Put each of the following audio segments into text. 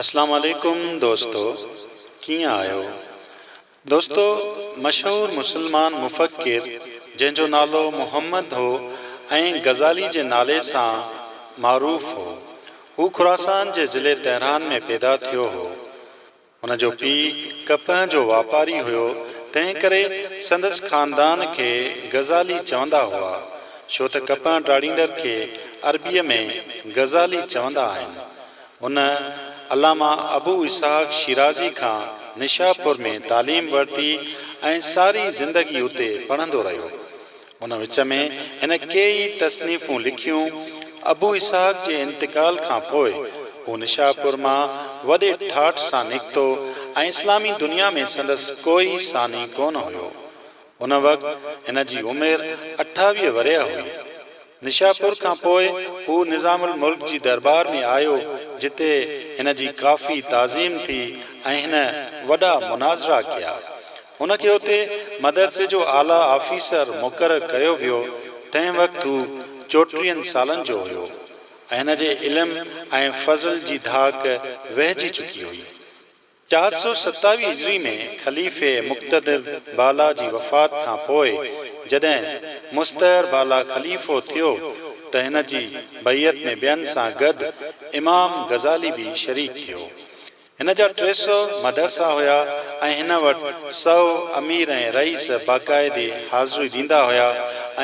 اسلام عليڪم دوستو ڪيئن آهيو دوستو مشهور مسلمان مفڪر جنهن جو نالو محمد هو ۽ غزالي جي نالي سان معروف هو هو خراسان جي ضلعي تهران ۾ پيدا ٿيو هو هن جو پيء ڪپهه جو واپاري هيو، تنهن ڪري سندس خاندان کي غزالي چوندا هئا، ڇو ته ڪپهه ڊاڙيندڙ کي عربيء ۾ غزالي چوندا آهن. هن علامه ابو اسحاق شيرازي کان نشاپور ۾ تعليم ورتي ۽ ساري زندگي اتي پڙهندو رهيو. ان وچ ۾ هن ڪيئي تصنيفون لکيون. ابو اسحاق جي انتقال کان پوء هو نشاپور مان وڏي ٺاٺ سان نڪتو ۽ اسلامي دنيا ۾ سندس ڪوئي ثاني ڪونه هيو. ان وقت هن جي عمر اٺاويهه ورهيه هئي. نشاپور کان پوء هو نظام الملڪ جي درٻار ۾ آيو جتي هن جي ڪافي تعظيم ٿي ۽ هن وڏا مناظرا ڪيا. هن کي اتي مدرسي جو اعليٰ آفيسر مقرر ڪيو ويو، تنهن وقت هو چوٽيهن سالن جو هيو ۽ هن جي علم ۽ فضل جي ڌاڪ وهجي چڪي هئي. چار سؤ ستاويهه هجري ۾ خليفي مقتدر بالا جي وفات کان پوء جڏهن مستعر بالا خليفو ٿيو ته هن جي بيعت ۾ ٻين سان گڏ امام غزالي به شريڪ ٿيو. هن جا ٽي سؤ مدرسا هيا ۽ هن وٽ سؤ امير ۽ رئيس باقاعدي حاضري ڏيندا هيا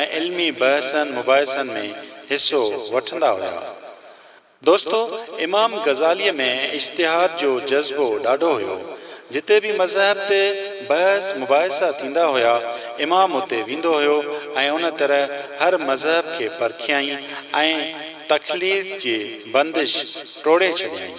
۽ علمي بحثن مباحثن ۾ حصو وٺندا هيا. دوستو! امام غزاليء ۾ اجتهاد جو جذبو ڏاڍو هيو. جتي به مذهب تي بحث مباحثا ٿيندا هيا، امام اتي ويندو هيو ۽ ان طرح هر مذهب کي پرکيائين ۽ تخليط جي بندش ٽوڙي ڇڏيائين.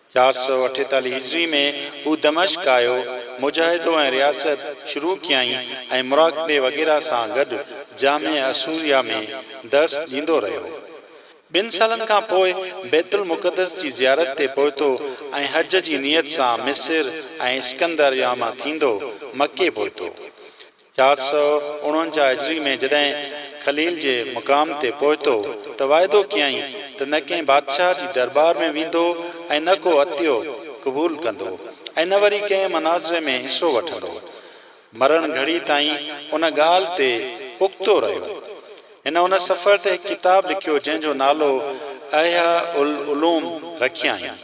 چار سؤ اٺيتاليهه هجري ۾ هو دمشق آيو، مجاهدو ۽ رياست شروع ڪيائين ۽ مراقبي وغيره سان گڏ جامع اسوريا ۾ درس ڏيندو رهيو. ٻن سالن کان پوء بيت المقدس جي زيارت تي پهتو ۽ حج جي نيت سان مصر ۽ اسڪندريا مان ٿيندو مڪي پهتو. چار سؤ اڻونجاهه هجري ۾ جڏهن خليل جي مقام تي پهتو ته واعدو ڪيائين ته نه ڪنهن بادشاهه جي دربار ۾ ويندو ۽ نه ڪو عطيو قبول ڪندو ۽ نه وري ڪنهن مناظري ۾ حصو وٺندو. مرڻ گهڙي تائين ان ڳالهه تي پختو رهيو. هن ان سفر تي هڪ ڪتاب لکيو جنهن جو نالو احياء العلوم رکيائين.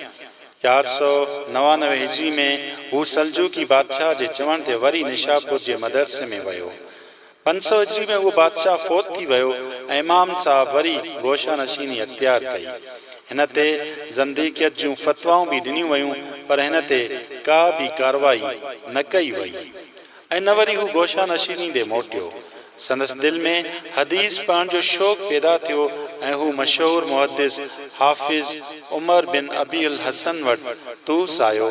چار سؤ نوانوي هجري ۾ هو سلجوقي بادشاهه جي چوڻ تي وري نيشاپور جي مدرسي ۾ ويو. پنج سؤ هجري ۾ اهو بادشاهه فوت ٿي ويو ۽ امام صاحب وري گوشه نشيني اختيار ڪئي. هن تي زنديقيت جون فتوائون به ڏنيون ويون پر هن تي ڪا به ڪارروائي نه ڪئي وئي. ۽ نه وري هو گوشه نشيني ڏي موٽيو. سندس دل ۾ حديث پڙهڻ جو شوق پيدا ٿيو ۽ هو مشهور محدث حافظ عمر بن ابي الحسن وٽ طوس آيو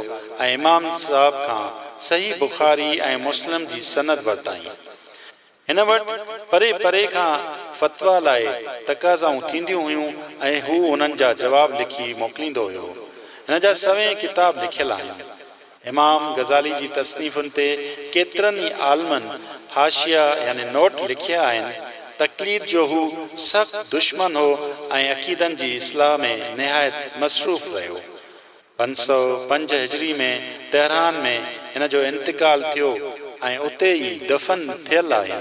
۽ امام صاحب کان صحيح بخاري ۽ مسلم جي سند ورتائين. هن وٽ پري پري کان فتويٰ لاء تقاضائون ٿينديون هيون ۽ هو انهن جا جواب لکي موڪليندو هيو. هن جا سوين ڪتاب لکيل آهن. امام غزالي جي تصنيفن تي ڪيترن ئي عالمن حاشيه يعني نوٽ لکيا آهن. تقليد جو هو سخت دشمن هو ۽ عقيدن جي اصلاح ۾ نهايت مصروف رهيو. پنج سؤ پنج هجري ۾ تهران ۾ هن جو انتقال ٿيو ۽ اتي ئي دفن ٿيل آهي.